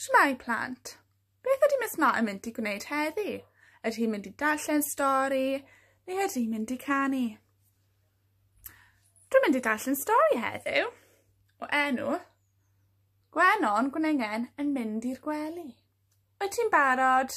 Shwmae plant! Beth ydy Miss Martin mynd i gwneud heddi? Ydy hi'n mynd i darllen stori neu ydy hi'n mynd i canu? Dwi'n mynd i darllen stori heddiw o enw Gwenon Gwenengen yn mynd i'r gwely. Wyt ti'n barod?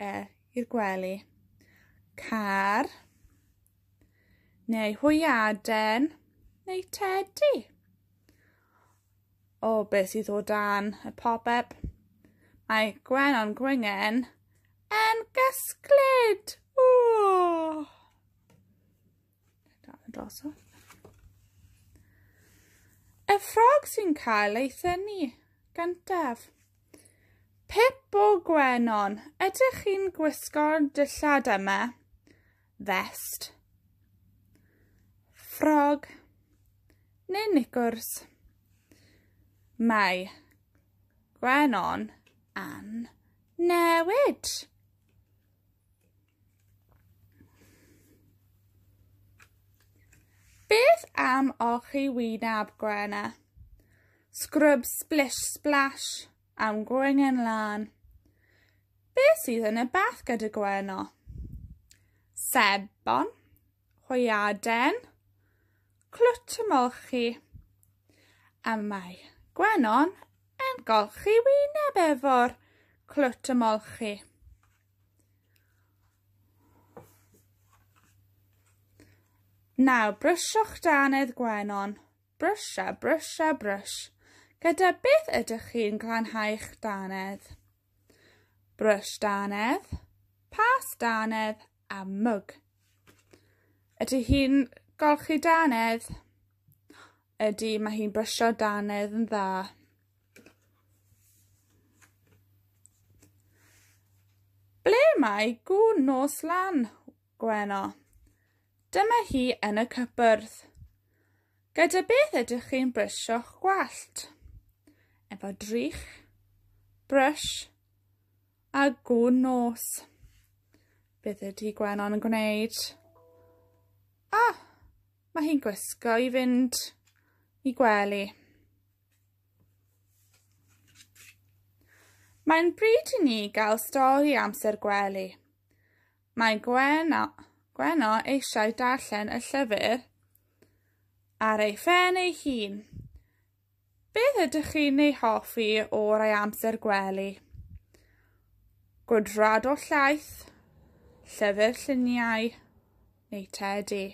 e i'r gwely. Car neu hwyaden neu tedi. O, beth sydd o dan y popeb? Mae Gwenon Gwyngen yn gysglyd! Ww! Y ffrog sy'n cael ei thynu gyntaf. Pip o Gwenon, ydych chi'n gwisgo'r dillad yma? Vest. Ffrog neu nicwrs. Mae Gwenon an newid. Beth am olchi wyneb gwena? Scrub splish splash am gwengen lan. Beth sydd yn y bath gyda gweno? Sebon, hwyaden, clwt ymolchi. A mae gwenon Yn golchi wyneb efo'r clwt ymolchi. Nawr, brysio'ch danedd gwenon. Brysia, brysia, brys. Gyda beth ydych chi'n glanhau'ch danedd? Brys danedd, pas danedd a mwg. Ydy hi'n golchi danedd? Ydy, mae hi'n brysio danedd yn dda. Ble mae gŵn nos lan, Gweno? Dyma hi yn y cypwrdd. Gyda beth ydych chi'n brysio'ch gwallt? Efo drych, brush a gwn nos. Beth ydy Gwenon yn gwneud? Ah! Mae hi'n gwisgo i fynd i gwely. Mae'n bryd i ni gael stori amser gwely. Mae Gweno, Gweno eisiau darllen y llyfr ar ei phen ei hun. Beth ydych chi'n ei hoffi o rai amser gwely? Gwydrad o llaeth, llyfr lluniau neu tedi.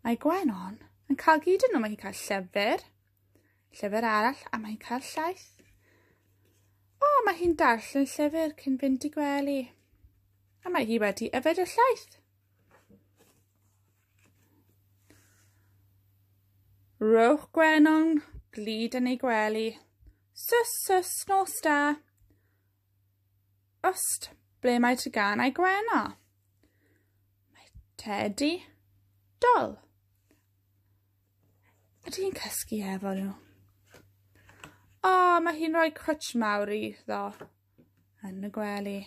Mae Gwenon yn cael gyd yn nhw. Mae'n cael llyfr, llyfr arall a mae'n cael llaeth. O, mae hi'n darllen llyfr cyn fynd i gwely. A mae hi wedi yfed y llaeth. Rhowch gwenon glid yn ei gwely. Sys, sys, nos da. Ost, ble mae ty gan ei gwena? Mae Teddy dol. Ydy hi'n cysgu efo nhw? O, mae hi'n rhoi cwtsh mawr iddo. yn y gwely.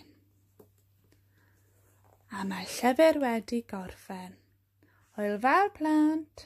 A mae llyfr wedi gorffen. Hwyl fawr plant!